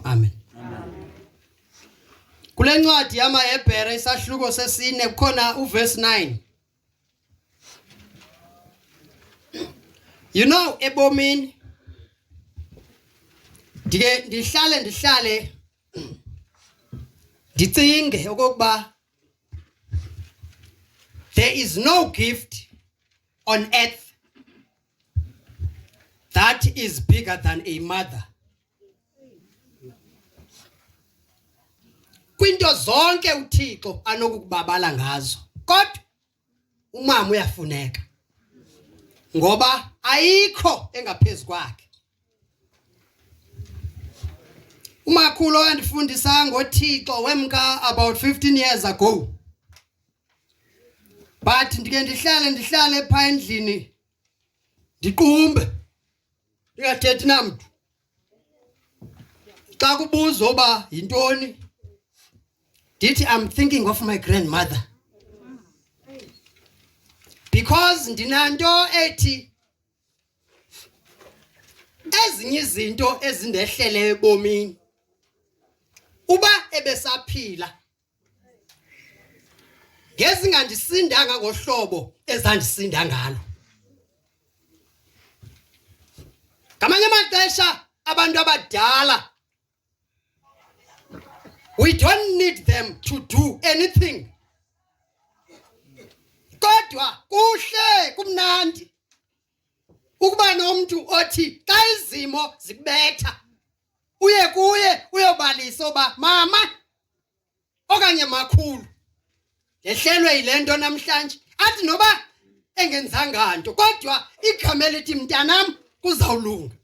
Amen. Kule ncwadi yamaHebhere isahluko sesine kukhona uverse 9. You know ebomini ndike ndihlale ndihlale ndicinge okokuba there is no gift on earth that is bigger than a mother kwinto zonke uThixo anokukubabala ngazo kodwa umama uyafuneka ngoba ayikho engaphezu kwakhe umakhulu andifundisa ngoThixo wemka about 15 years ago but ndike ndihlale ndihlale pha endlini ndiqumbe ndingathethi namntu xa kubuzwa uba yintoni ndithi i'm thinking of my grandmother because ndinanto ethi ezinye izinto ezindehlele ebomini uba ebesaphila ngezingandisindanga ngohlobo ezandisinda ngalo ngamanye amaxesha abantu abadala we don't need them to do anything kodwa kuhle kumnandi ukuba nomntu othi xa izimo zikubetha uye kuye uyobalisa uba mama okanye makhulu ndehlelwe yile nto namhlanje athi noba engenzanga nto kodwa igama elithi mntanam kuzawulunga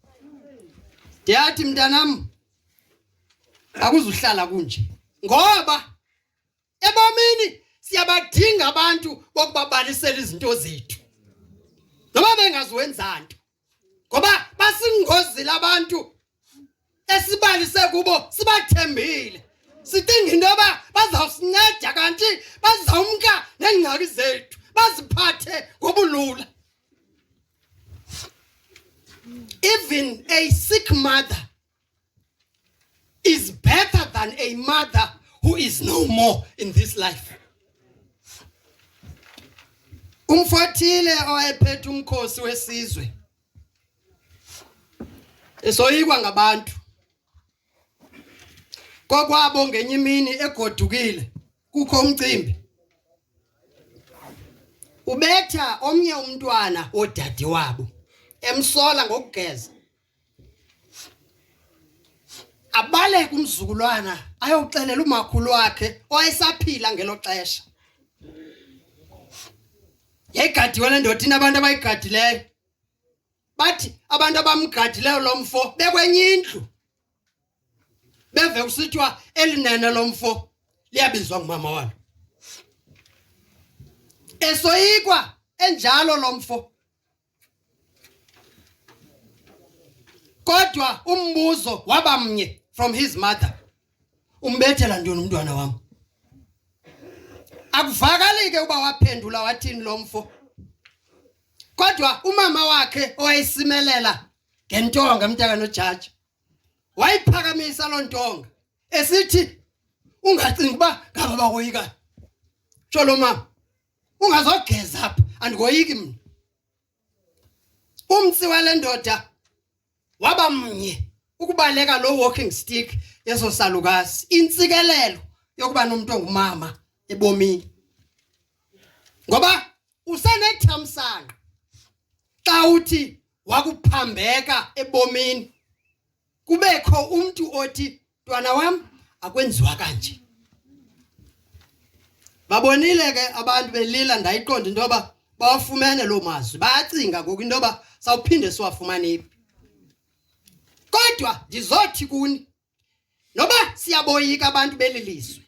ndiyathi mntanam akuzuhlala kunje ngoba ebomini siyabadinga abantu bokubabalisela izinto zethu noba bengaziwenza nto ngoba basingozile abantu esibalise kubo sibathembile sicinga into yoba bazawusinceda kanti bazawumka neengxaki zethu baziphathe ngobulula even a sick mother is better than a mother who is no more in this life. Umfothile owayephethe umkhosi wesizwe esoyikwa ngabantu kokwabo ngenye imini egodukile kukho umcimbi ubetha omnye umntwana wodade wabo emsola ngokugeza abaleke umzukulwana ayoxelela umakhulu wakhe owayesaphila ngelo xesha yayigadiwe le ndoda inabantu abayigadileyo bathi abantu abamgadileyo lo mfo bekwenye indlu beve kusithiwa elinene lo mfo liyabizwa ngumama walo esoyikwa enjalo lo mfo Kodwa umbuzo waba mnye from his mother. Umbethela ntoni umntwana wam? Akuvakali ke uba waphendula wathini lo mfo. Kodwa umama wakhe owayisimelela ngentonga umntaka nojaji wayiphakamisa loo ntonga esithi ungacingi uba ngaba bakoyikani sho lo mama ungazogeza apha andikoyiki mna umtsi wale ndoda waba mnye ukubaleka loo walking stick yeso salukazi intsikelelo yokuba nomntu ongumama ebomini ngoba usenethamsanqa xa uthi wakuphambeka ebomini kubekho umntu othi Mntwana wam akwenziwa kanje. Babonile ke abantu belila ndayiqonda into yoba bawafumene loo mazwi bayacinga ngoku into yoba sawuphinde siwafumane phi kodwa ndizothi kuni noba siyaboyika abantu belilizwe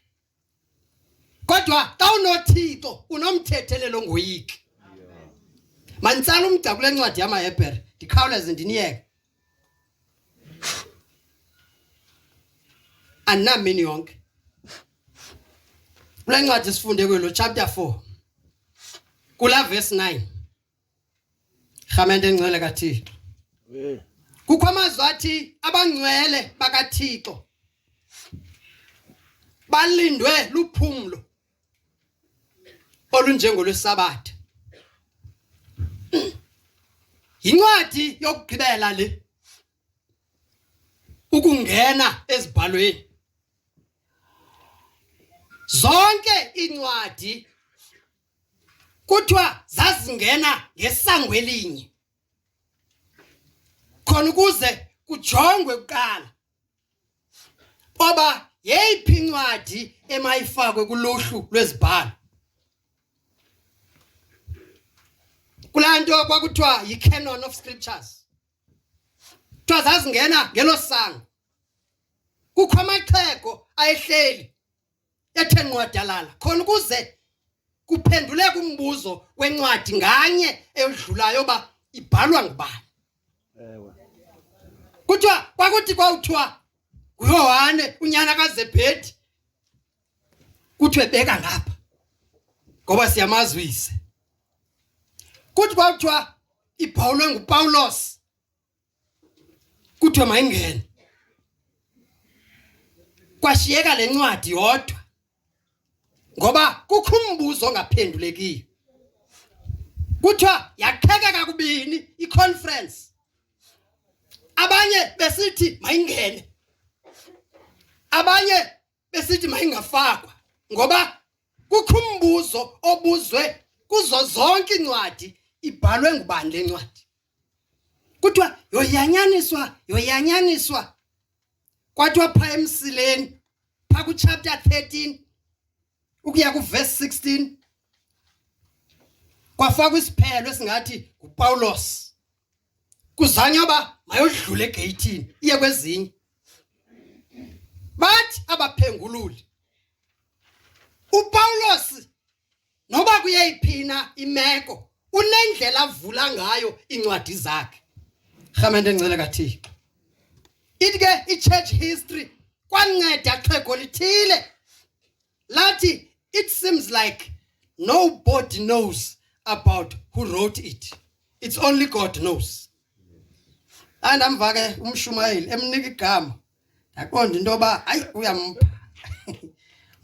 kodwa xa unothixo unomthethelelo ngoyiki manditsala umda kule ncwadi yamahebhere ndikhawuleze ndiniyeke andinamini yonke kule ncwadi sifunde kwelo chapter 4 kula verse 9 Rhamente engcwele kaThixo. Eh. Kukho amazwi athi abangcwele bakaThixo balindwe luphumlo olunjengolwesabatha. Yincwadi yokugqibela le ukungena ezibhalweni. Zonke incwadi kuthiwa zazingena ngesango elinye khona ukuze kujongwe kuqala oba yeyiphi incwadi emayifakwe kuluhlu lwezibhalo kulaa nto kwakuthiwa yi-canon of scriptures kuthiwa zazingena ngelo sango kukho amaxhego ayehleli ethe nqwadalala khona ukuze kuphenduleka umbuzo wencwadi nganye eyodlulayo uba ibhalwa ngubani ewe kuthiwa kwakuthi kwawuthiwa nguyohane unyana kazebhedi kuthiwe beka ngapha ngoba siyamazwise kuthi kwakuthiwa ibhawulwe ngupawulos kuthiwe mayingene kwashiyeka le ncwadi yodwa ngoba kukho umbuzo ongaphendulekiyo kuthiwa yakheke kakubini iconference abanye besithi mayingene abanye besithi mayingafakwa ngoba kukho umbuzo obuzwe kuzo zonke incwadi ibhalwe ngubani le ncwadi kuthiwa yoyanyaniswa yoyanyaniswa kwathiwa pha emsileni pha kuchapter 13 ukuya kuverse 16 kwafakwa isiphelo esingathi nguPawulos kuzanye oba mayodlule egeyithini iye kwezinye bathi abaphengululi uPawulos noba kuyeyiphina imeko unendlela avula ngayo incwadi zakhe rhamente encele kathixo ithi ke i-church history kwanceda xhego lithile lathi it seems like nobody knows about who wrote it it's only god knows andamva ke umshumayeli emnika igama ndaqonda into yoba hayi uyampha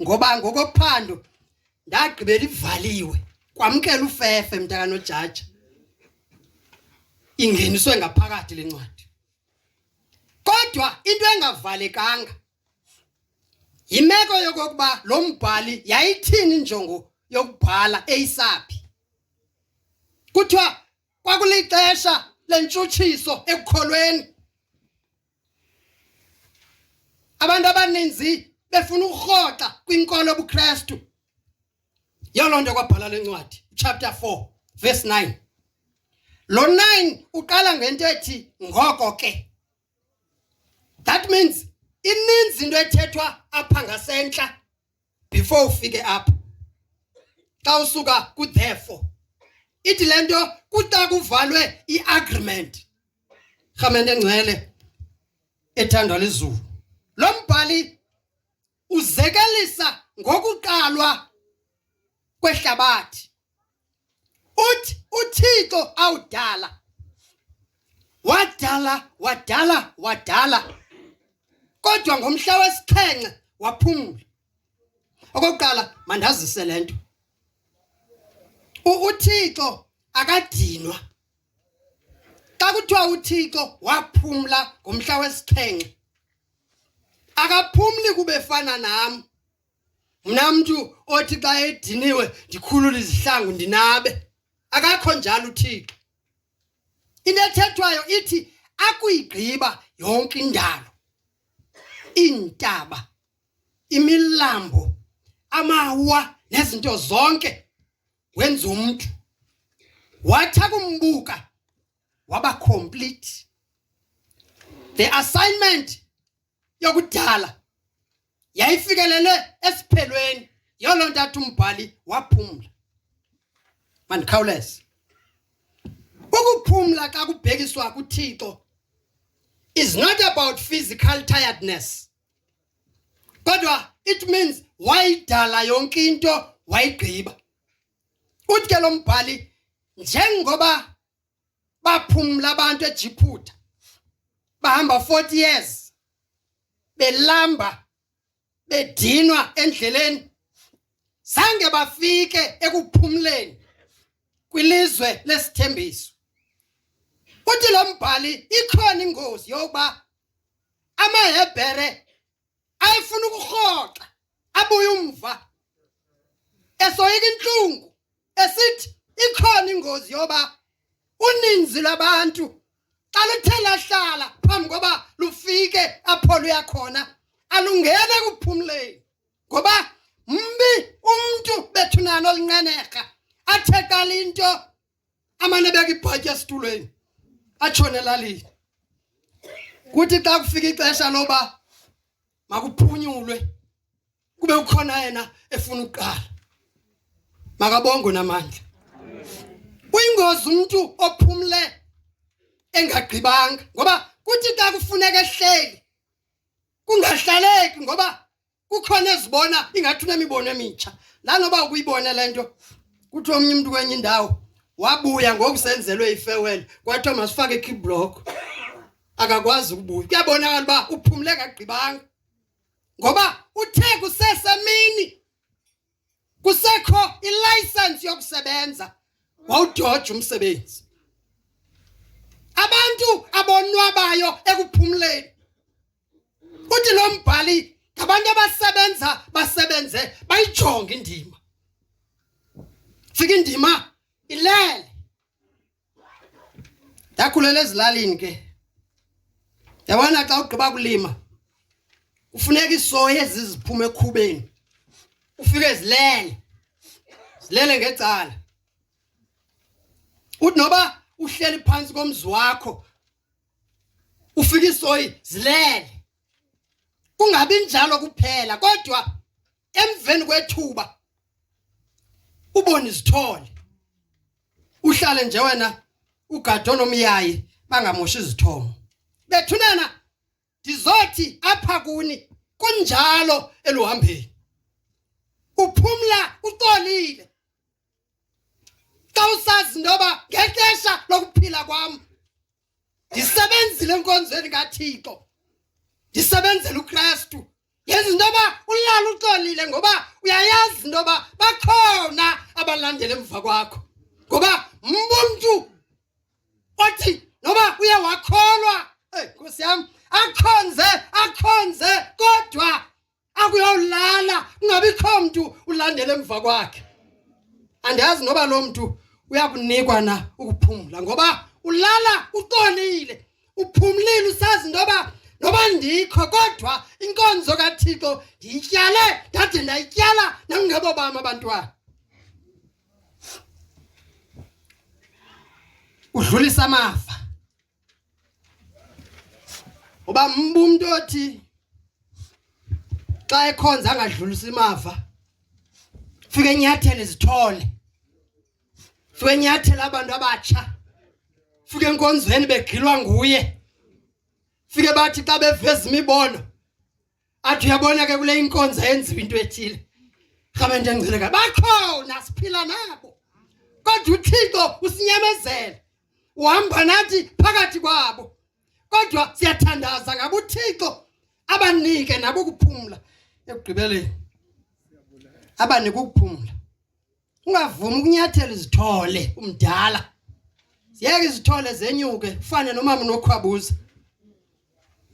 ngoba ngokophando ndagqibela ivaliwe kwamkela ufefe mntakanojaja ingeniswe ngaphakathi le ncwadi kodwa into engavalekanga Yimeko yokokuba lo mbhali yayithini injongo yokubhala eyisaphi. Kuthiwa kwakulixesha lentshutshiso ekukholweni. Abantu abaninzi befuna ukurhoxa kwinkolo yobuKristu. Yoloo nto kwabhala le ncwadi, chapter 4 verse 9. Lo 9 uqala ngento ethi ngoko ke. that means ininzi into ethethwa apha ngasentla before ufike apha xa usuka ku therefore ithi lento kuta kuvalwe iagreement rhamente ngcwele ethandwa lizulu lo mbhali uzekelisa ngokuqalwa kwehlabathi uthi uThixo awudala wadala wadala wadala kodwa ngomhla wesixhenxe waphumula okokuqala mandazise lento uThixo akadinwa xa kuthiwa uThixo waphumla ngomhla wesixhenxe akaphumli kubefana nam mna mntu othi xa ediniwe ndikhulule izihlangu ndinabe akakho njalo uthixo into ethethwayo ithi akuyigqiba yonke indalo iintaba imilambo amawa nezinto zonke wenza umntu wathi akumbuka waba complete the assignment yokudala yayifikelele esiphelweni yolo ntathu umbhali waphumla mandikhawuleze ukuphumla xa kubhekiswa kuThixo is not about physical tiredness kodwa it means wayidala yonke into wayigqiba uthi ke lo mbhali njengoba baphumla abantu eJiphutha bahamba 40 years belamba bedinwa endleleni sange bafike ekuphumleni kwilizwe lesithembiso uthi lo mbhali ikhona ingozi yokuba amahebhere ayefuna ukurhoxa abuye umva esoyika intlungu esithi ikhona ingozi yoba uninzi lwabantu xa luthe lahlala phambi koba lufike apho luya khona alungene kuphumleni ngoba mbi umntu bethunani olinqenerha athe qala into amane ebeka ibhatya esitulweni atshone elalini kuthi xa kufika ixesha loba makuphunyulwe kube ukhona yena efuna ukuqala makabongwe namandla uyingozi umuntu ophumle engagqibanga ngoba kuthi xa kufuneka ehleli kungahlaleki ngoba kukhona ezibona ingathi unemibono emitsha nanoba ukuyibona le nto kuthi omnye umntu kwenye indawo wabuya ngoku senzelwe ifewele kwathiwa masifake ikiblock akakwazi ukubuya kuyabonakala uba uphumle kagqibanga ngoba uthe kusesemini kusekho ilayisensi yokusebenza wawudoja umsebenzi abantu abonwabayo ekuphumleni uthi lo mbhali ngabantu abasebenza basebenze bayijonge indima fika indima ilele Ndakhulela ezilalini ke. Yabona xa ugqiba kulima kufuneka isoyi eziziphume ekhubeni. Ufike zilele. Zilele ngecala. Uthi noba uhleli phansi komzi wakho ufike isoyi zilele. Kungabi njalo kuphela kodwa emveni kwethuba ubone izithole uhlale nje wena ugado nomyayi bangamoshi izithomo bethunana ndizothi apha kuni kunjalo eluhambeni uphumla uxolile xa usazi ntoba ngexesha lokuphila kwam ndisebenzile enkonzweni kathixo ndisebenzela ukristu yenza into yoba ulala uxolile ngoba uyayazi into yoba bakhona abalandela emva kwakho ngoba mbumntu othi noba uye wakholwa eyi nkosi yam akhonze akhonze kodwa akuyawulala kungabikho mntu ulandela emva kwakhe andiyazi noba loo mntu uyakunikwa na ukuphumla ngoba ulala uxolile uphumlile usazi ntoba noba ndikho kodwa inkonzo kathixo ndiyityale ndade ndayityala nangebo bam abantwana udlulisa amafa uba mba umntu othi xa ekhonza angadlulisa imava fike enyathele izithole fike enyathele abantu abatsha fike enkonzweni begilwa nguye fike bathi xa beveza imibono athi uyabona ke kule inkonzo yenziwa into ethile rhamente engcileka bakhona siphila nabo kodwa uthixo usinyamezela uhamba nathi phakathi kwabo kodwa siyathandaza ngabo uthixo abanike nabo ukuphumla ekugqibeleni abanike ukuphumla ungavumi ukunyathela izithole umdala ziyeke izithole zenyuke ufane nomama nokhwabuza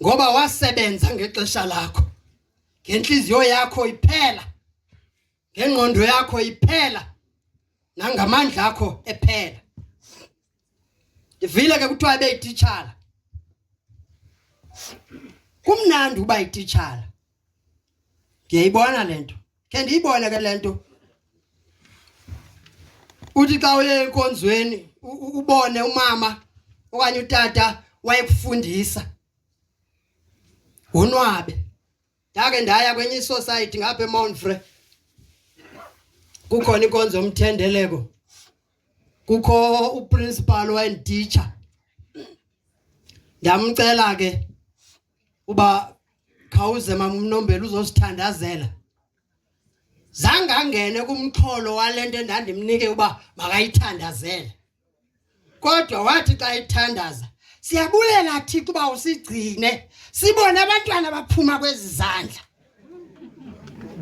ngoba wasebenza ngexesha lakho ngenhliziyo yakho iphela ngengqondo yakho iphela nangamandla akho ephela ndivile ke kuthiwa ebeyititshala kumnandi uba yititshala ndiyayibona le nto khe ndiyibone ke le nto uthi xa uye enkonzweni ubone umama okanye utata wayekufundisa wonwabe ndake ndaya kwenye isociety ngapha emonfre kukhona inkonzo yomthendeleko kukho uprincipal wayenditsha ndamcela ke uba khawuze mamnombela uzosithandazela zange angene kumxholo wale nto endandimnike uba makayithandazele kodwa wathi xa ithandaza siyabulela thixo uba usigcine sibone abantwana baphuma kwezi zandla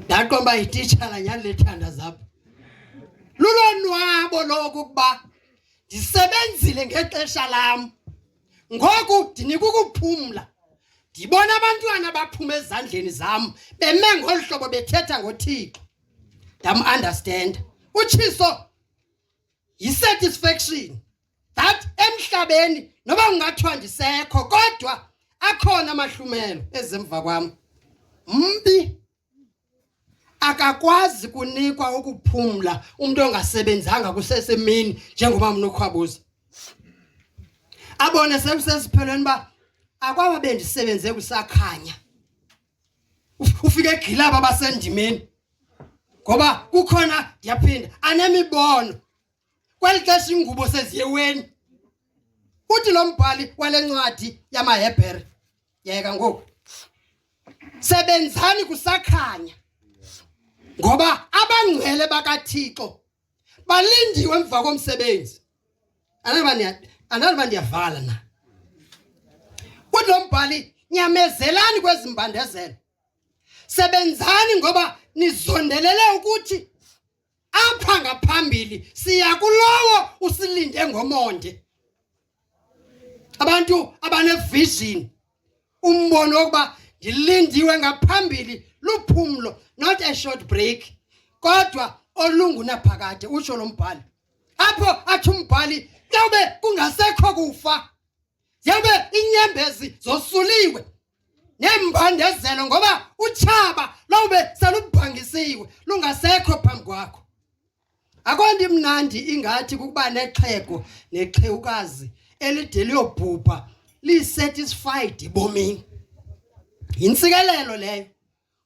ndaqomba ititshala nyhani lethanda zapho lulonwabo loku ukuba ndisebenzile ngexesha lam ngoku ndinika ukuphumla ndibona abantwana baphuma ezandleni zam beme ngolu hlobo bethetha ngothixo ndamunderstanda utshiso yisatisfaction that emhlabeni noba kungathiwa ndisekho kodwa akhona amahlumelo ezemva kwam mbi akakwazi kunikwa ukuphumla umuntu ongasebenzanga kusesemini njengoba mnokhwabuza abone sekusesiphelweni ba akwaba bendisebenze kusakhanya ufike egilaba basendimeni ngoba kukhona ndiyaphinda anemibono kweli xesha ingubo seziyeweni uthi lo mbhali wale ncwadi yamahebhere yeka ngoku sebenzani kusakhanya ngoba abangcwele bakathixo balindiwe emva komsebenzi andaliba ndiyavala na kuthi lo mbhali nyamezelani kwezi mbandezelo sebenzani ngoba nizondelele ukuthi apha ngaphambili siya kulowo usilinde ngomonde abantu abanevision umbono wokuba ndilindiwe ngaphambili luphumlo not a short break kodwa olungunaphakade utsho lo mbhali apho athi umbhali yawube kungasekho kufa yawube inyembezi zosuliwe neembandezelo ngoba utshaba lawube selubhangisiwe lungasekho phambi kwakho akonto imnandi ingathi kukuba nexhego nexhewukazi elide liyobhubha lisatisfied ebomini yintsikelelo leyo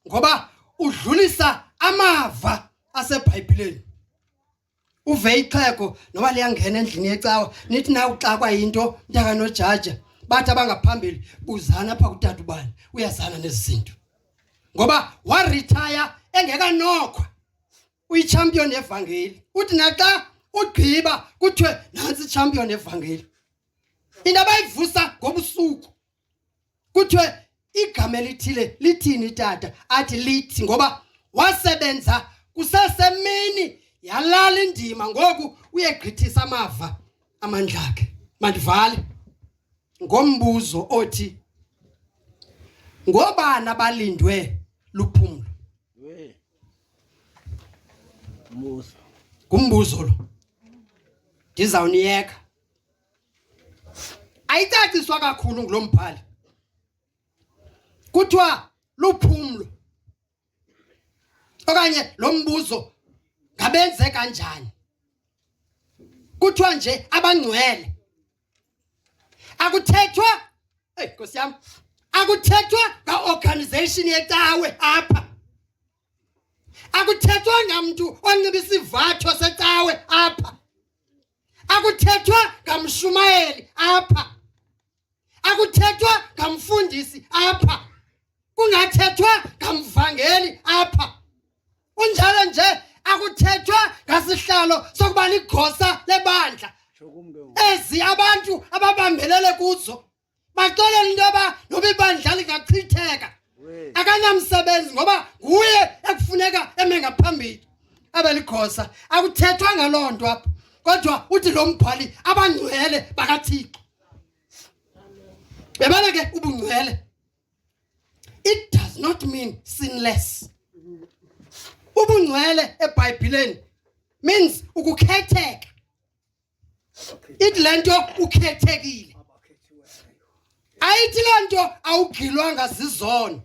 ngoba udlulisa amava asebhayibhileni uve ixhego noba liyangena endlini yecawa nithi na uxakwa yinto mntaka nojaja bathi abangaphambili buzana apha kutata ubani uyazana nezi zinto ngoba waritaya engekanokhwa uyichampion yevangeli uthi naxa ugqiba kuthiwe nantsi ichampion yevangeli into abayivusa ngobusuku kuthiwe igama elithile lithini tata athi lithi ngoba wasebenza kusesemini yalala indima ngoku uyegqithisa amava amandla akhe mandivale ngombuzo othi ngobani abalindwe luphumlo ngumbuzo lo ndizawuniyeka ayicaciswa kakhulu ngulo mbhali kuthiwa luphumlo okanye lo mbuzo ngabenze kanjani kuthiwa nje abangcwele akuthethwa hey nkosi yam akuthethwa ngaorganization yecawe apha akuthethwanga mntu onxiba isivatho secawe apha akuthethwa ngamshumayeli apha akuthethwa ngamfundisi apha kungathethwa ngamvangeli apha unjalo nje akuthethwa ngasihlalo sokuba ligosa lebandla ezi abantu ababambelele kuzo baxolela into yoba noba ibandla lingachitheka akanamsebenzi ngoba nguye ekufuneka eme ngaphambili abe ligosa akuthethwa ngaloo nto apho kodwa uthi lo mbhali abangcwele bakathixo yabona ke ubungcwele it does not mean sinless ubungcwele ebhayibhileni means ukukhetheka ithi le nto ukhethekile ayithi loo nto awugilwanga zizono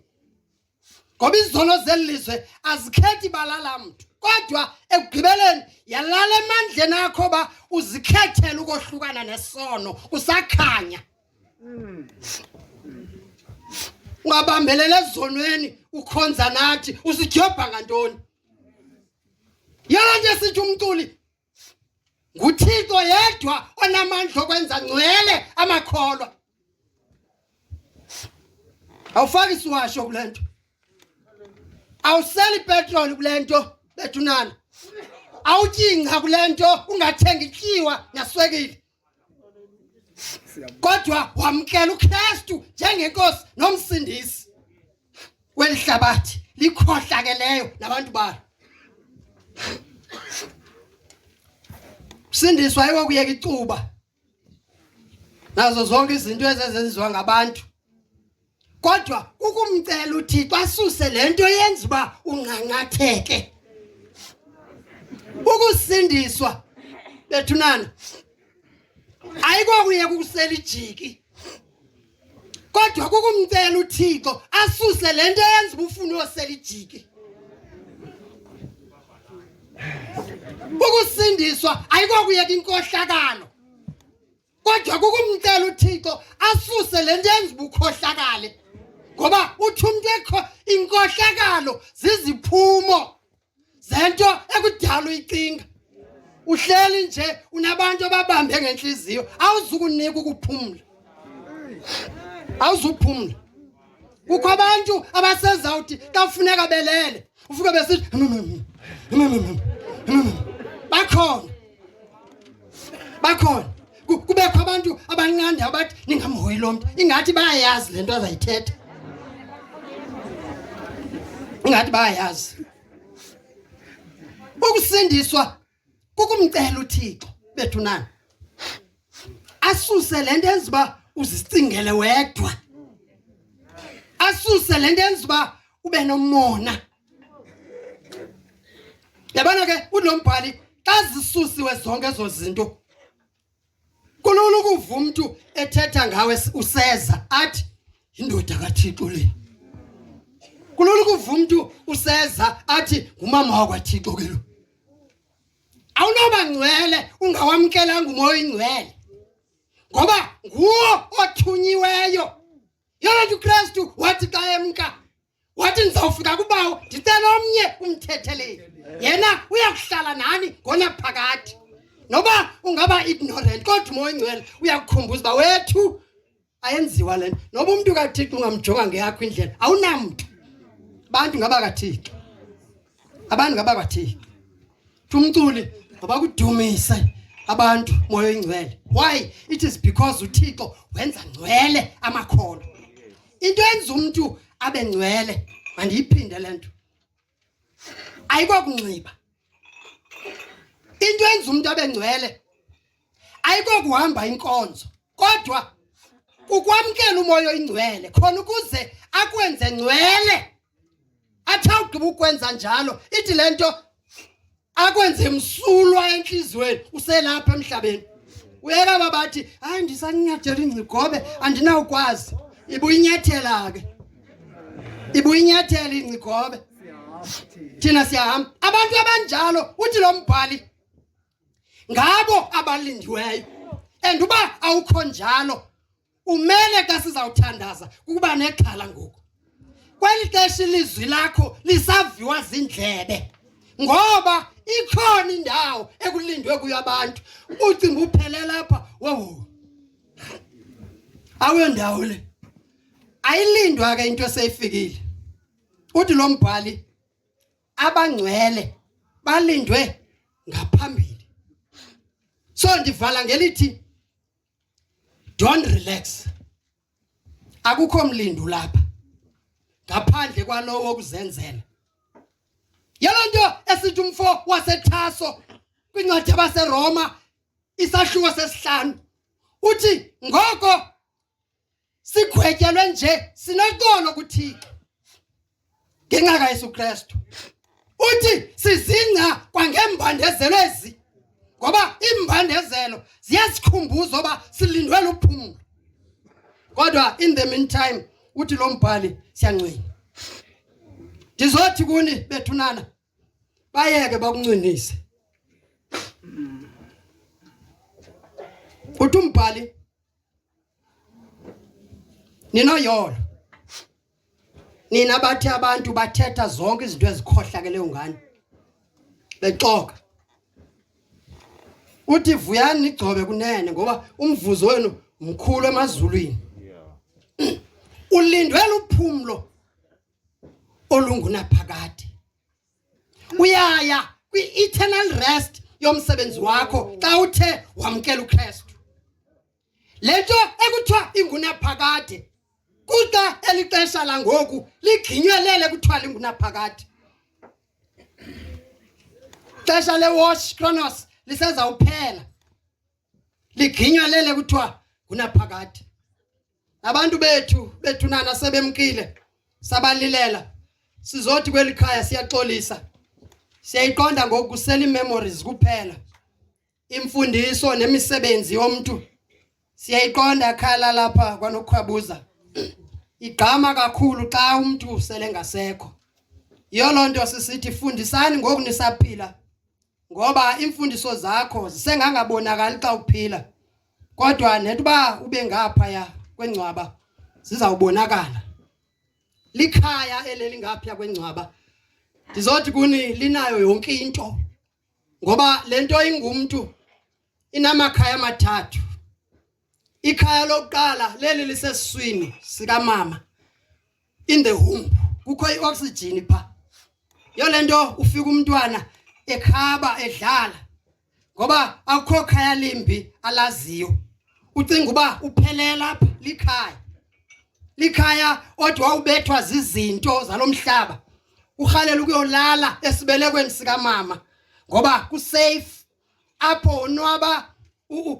ngoba izono zeli lizwe azikhethi balala mntu kodwa ekugqibeleni yalala emandleni akho uba uzikhethele ukohlukana nesono usakhanya ungabambelela ezonweni ukhonza nathi usidyobha ngantoni yona nto esithi umculi nguthixo yedwa onamandla okwenza ngcwele amakholwa awufaki isiwasho kule nto awuseli petroli kule nto bethunana awutyingca kule nto ungathengi tyiwa naswekile kodwa wamkela uKristu njengenkosi nomsindisi welihlabathi likhohlakeleyo nabantu balo sindiswa yiwo kuyeka icuba nazo zonke izinto ezezenziwa ngabantu kodwa ukumcela uthixo asuse le nto yenza uba unqanqatheke ukusindiswa bethunana ayikokuyeka ukusela ijiki kodwa kukumcela uthixo asuse le nto yenza uba ufune uyosela ijiki ukusindiswa ayikokuyeka inkohlakalo kodwa kukumcela uthixo asuse le nto yenza ubukhohlakale ngoba uthi umntu ekho inkohlakalo ziziphumo zento ekudala uyicinga uhleli nje unabantu ababambe ngentliziyo awuzukunika ukuphumla awuzuphumla kukho abantu abasezawuthi kafuneka belele ufuke besithi bakhona bakhona kubekho abantu abanqandi abathi ningamhoyi lo mntu ingathi bayayazi le nto azayithetha ingathi bayayazi ukusindiswa kukumcela uthixo bethu nani asuse le nto enza uba uzicingele wedwa asuse le nto enza uba ube nomona yabona ke ulo mbhali xa zisusiwe zonke ezo zinto kulula ukuva umntu ethetha ngawe useza athi yindoda kathixo le kulula ukuva umntu useza athi ngumama wakwathixo ke lo awunoba ngcwele ungawamkelanga umoya oyingcwele ngoba nguwo othunyiweyo yona nto ukristu wathi xa emka wathi ndizawufika kubawo ndicela omnye umthetheleli yena uyakuhlala nani ngona phakathi noba ungaba ignorant kodwa umoya ingcwele uyakukhumbuza uba wethu ayenziwa le nto noba umntu kathixo ungamjonga ngeyakho indlela awunamntu bantu ngaba kathixo abantu ngabakwathini umculi ngabakudumise abantu moya oyingcwele why it is because uthixo wenza ngcwele amakholwa into enza umntu abe ngcwele mandiyiphinde le nto ayikokunxiba into enza umntu abe ngcwele ayikokuhamba inkonzo kodwa ukwamkela umoya oyingcwele khona ukuze akwenze ngcwele athe awugqiba ukwenza njalo ithi le nto akwenze msulwa entliziyweni uselapha emhlabeni uyeka babathi hayi ndisaninyathela ingcigobe andinawukwazi ibuyinyathela ke ibuyinyathela ingcigobe thina siyahamba abantu abanjalo uthi lo mbhali ngabo abalindiweyo and uba awukho njalo Kumele xa sizawuthandaza kukuba nexhala ngoku. Kweli xesha ilizwi lakho lisaviwa zindlebe. Ngoba ikhona indawo ekulindwe kuyo abantu. Ucinga uphele lapha. Wowu. Awe ndawo le. Ayilindwa ke into eseyifikile. Uthi lo mbhali abangcwele balindwe ngaphambili. So ndivala ngelithi don't relax akukho mlindu lapha ngaphandle kwalowo okuzenzela yelo nto esithi umfo wasethaso kwincwadi yabaseroma isahluko sesihlanu uthi ngoko sigwetyelwe nje sinoxolo kuthixo ngenxa kayesu kristu uthi sizingca kwangembandezelo ezi ngoba iimbandezelo ziyasikhumbuza uba silindwe luphumlo kodwa in the meantime uthi lo mbhali siyancwina ndizothi kuni bethunana bayeke bakuncinise uthi umbhali ninoyolo nina bathi abantu bathetha zonke izinto ezikhohlakele ungani bexoka uthi vuyani nigcobe kunene ngoba umvuzo wenu mkhulu emazulwini ulindwe luphumlo olungunaphakade uyaya kwi-eternal rest yomsebenzi wakho xa uthe wamkela uKristu le nto ekuthiwa ingunaphakade kuxa eli xesha langoku ligqinyelele kuthiwa lingunaphakade xesha lewash chronos lisezawuphela ligqinyelele kuthiwa ngunaphakade Abantu bethu bethunana sebemkile sabalilela sizothi kweli khaya siyaxolisa siyayiqonda ngoku kusela iimemories kuphela imfundiso nemisebenzi yomntu siyayiqonda khala lapha kwanokukhwabuza igqama kakhulu xa umntu usele ngasekho yiyo loo nto sisithi fundisani ngoku nisaphila ngoba iimfundiso zakho zisengangabonakali xa uphila kodwa nentuba ube ngaphaya kwengcwaba zizawubonakala likhaya elelingapha kwengcwaba ndizothi kuni linayo yonke into ngoba lento ingumntu inamakhaya amathathu ikhaya lokuqala leli lisesiswini sikamama in the womb kukho ioxygen pha yolento ufika umntwana ekhaba edlala ngoba akukho khaya limbi alaziyo ucinga uba uphelela apha likhaya likhaya odwa ubethwa zizinto zalomhlaba uhalela ukuyolala esibelekweni sikamama ngoba kusafe apho unwaba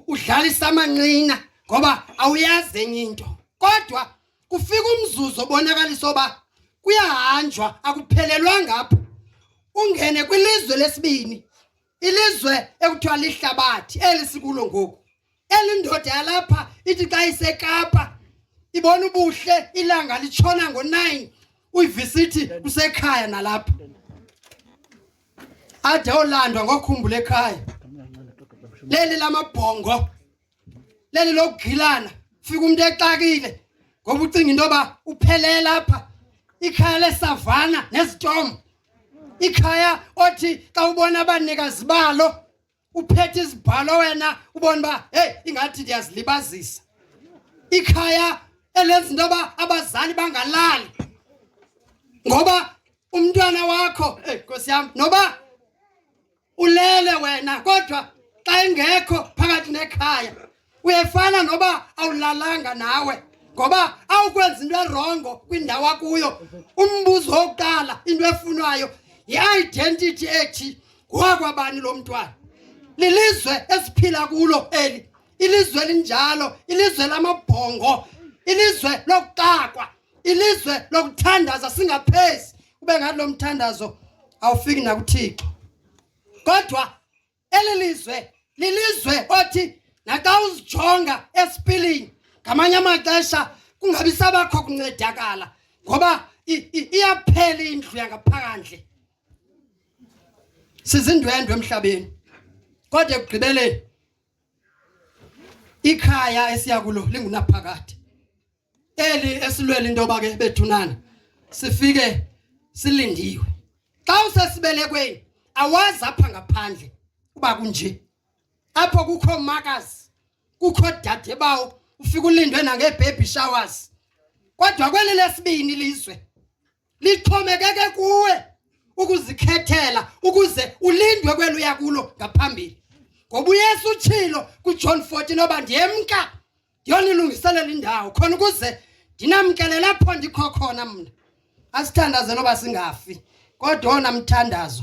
udlalisa amanqina ngoba awuyazi enye into kodwa kufika umzuzu obonakalisa oba kuyahanjwa akuphelelwanga apho ungene kwilizwe lesibini ilizwe ekuthiwa lihlabathi eli sikulo ngoku elindoda yalapha ithi xa isekapa ibona ubuhle ilanga litshona ngo-nine uyivisithi kusekhaya nalapha ade olandwa ngokhumbula ekhaya leli lamabhongo leli lokugilana fika umuntu exakile ngoba ucinga into yoba uphelele lapha ikhaya lesavana nezitomo ikhaya othi xa ubona abanikazi balo uphethe izibhalo wena ubona uba heyi ingathi ndiyazilibazisa ikhaya elenza into yoba abazali bangalali ngoba umntwana wakho eyi nkosi yam noba ulele wena kodwa xa engekho phakathi nekhaya Uyefana noba awulalanga nawe ngoba awukwenza into erongo kwindawo akuyo. Umbuzo wokuqala into efunwayo yi-identity ethi ngowakwabani lo mntwana. Lilizwe esiphila kulo eli. Ilizwe elinjalo, ilizwe lamabhongo, ilizwe lokuxakwa, ilizwe lokuthandaza singaphezi. Ube ngathi lo mthandazo awufiki nakuThixo. Kodwa Eli lizwe lilizwe othi naxa uzijonga esipilini ngamanye amaxesha kungabi sabakho kuncedakala ngoba iyaphela indlu yangaphandle sizindwendwe emhlabeni kodwa ekugqibeleni ikhaya esiya kulo lingunaphakade eli esilwela into yoba ke bethunana sifike silindiwe xa usesibelekweni awazi apha ngaphandle uba kunje apho kukho makazi kukho dade bawo ufike ulindwe nangeebaby showers kodwa kweli lesibini lizwe lixhomekeke kuwe ukuzikhethela ukuze ulindwe kwelo uya kulo ngaphambili ngoba uyesu utshilo kujohn 14 oba ndiyemka ndiyonilungiselela indawo khona ukuze ndinamkele lapho ndikho khona mna asithandaze noba singafi kodwa ona mthandazo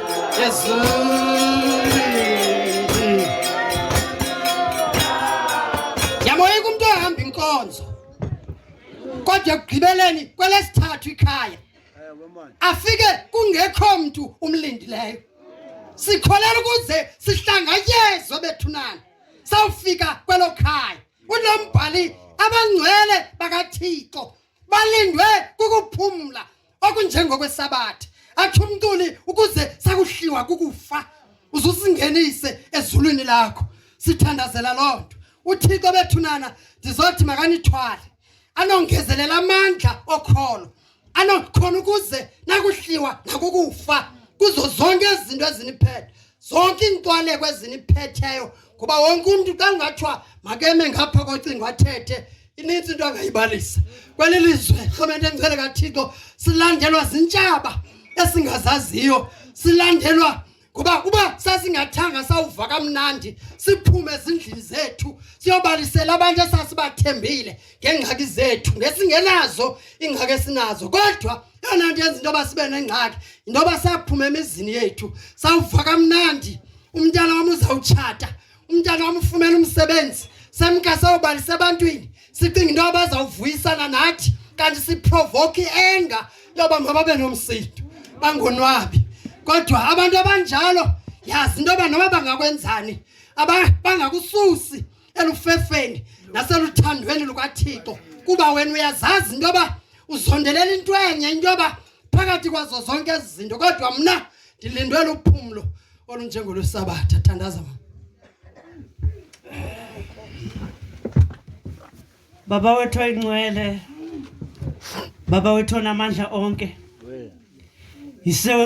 Yamoyika umntu ohamba inkonzo kodwa ekugqibeleni kwelesithathu ikhaya afike kungekho mntu umlindileyo sikholela ukuze sihlanganyezwe bethunana sawufika kwelo khaya unombhali abangcwele bakathixo balindwe kukuphumla okunjengokwesabatha atsho umntuli ukuze sakuhliwa kukufa uzusingenise ezulwini lakho sithandazela loo nto uthixo bethunana ndizothi makanithwale anongezelela amandla okholo anokhona ukuze nakuhliwa nakukufa kuzo zonke izinto eziniphethe zonke iintwaleko eziniphetheyo ngoba wonke umntu xa kungathiwa makeme ngapha kocingo athethe inintsi into angayibalisa kweli lizwe rhulumente endicele kathixo silandelwa zintshaba esingazaziyo silandelwa ngoba uba sasingathanga sawuva kamnandi siphume ezindlini zethu siyobalisela abantu esasibathembile ngeengxaki zethu ngesingenazo iingxaki esinazo kodwa yona nto yenza into yoba sibe nengxaki yinto yoba saphume emizini yethu sawuva kamnandi umntana wam uzawutshata umntana wam ufumene umsebenzi semkase obalisa ebantwini sicinga into abazawuvuyisana nathi kanti siprovoke i-enga yoba mababe nomsindo bangonwabi kodwa abantu abanjalo yazi into yoba noba bangakwenzani bangakususi elufefeni naseluthandweni lukathixo kuba wena uyazazi into yoba uzondelela into enye into yoba phakathi kwazo zonke ezi zinto kodwa mna ndilindwe luphumlo olunjengo lwesabatha thandaza ma baba wethu oyingcwele baba wethu onamandla onke yisewe